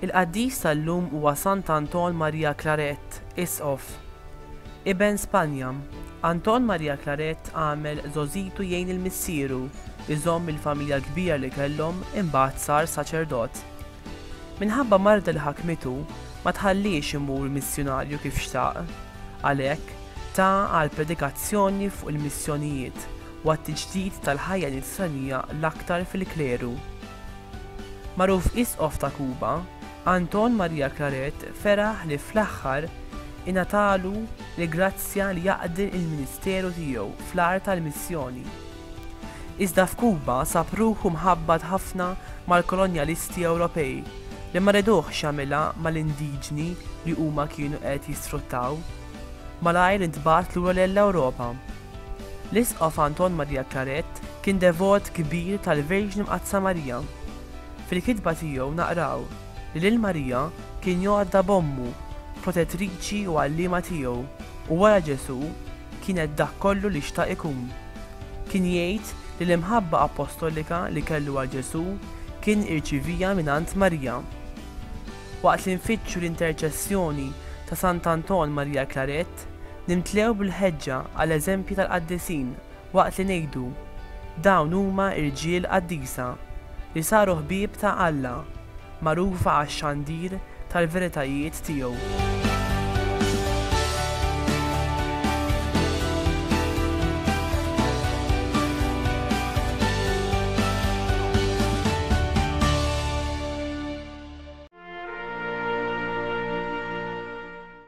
Il-qaddis tal-lum huwa Sant Anton Maria Claret, Isqof. Iben Spanja, Anton Maria Claret għamel żogħżitu jgħin lil missieru, iżomm il-familja l-kbira li kellhom, imbagħad sar saċerdot. Minħabba marda li ħakmitu, ma tħalliex imur missjunarju kif xtaq. Għalhekk, ta għal predikazzjoni fuq il-missjonijiet u għat-tiġdid tal-ħajja Nisranija l-aktar fil-kleru. Magħruf Isqof ta' Kuba, Anton Maria Claret feraħ li fl-aħħar ingħatalu l-grazzja li jaqdi l-ministeru tiegħu fl-art tal-missjoni. Iżda f'Kuba sab ruħu mħabbat ħafna mal-kolonjalisti Ewropej li ma reduhx jagħmilha mal-indiġni li huma kienu qed jisfruttaw. Malajr intbagħat lura lell-Ewropa. L-Isqof Anton Maria Claret kien devot kbir tal-Verġni Mqaddsa Marija. Fil-kitba tiegħu naqraw. li lil Marija kien jgħodda b'Ommu, protettriċi u għalliema tiegħu, u wara Ġesù kienet dak kollu li xtaq ikun. Kien jgħid li l-imħabba appostolika li kellu għal Ġesù kien irċivieha mingħand Marija. Waqt li nfittxu l-interċessjoni ta' Sant'Anton Maria Claret, nimtlew bil-ħeġġa għal eżempji tal-qaddisin waqt li ngħidu, Dawn huma rġiel qaddisa, li saru ħbieb ta' Alla, magħrufa għax-xandir tal-veritajiet tiegħu.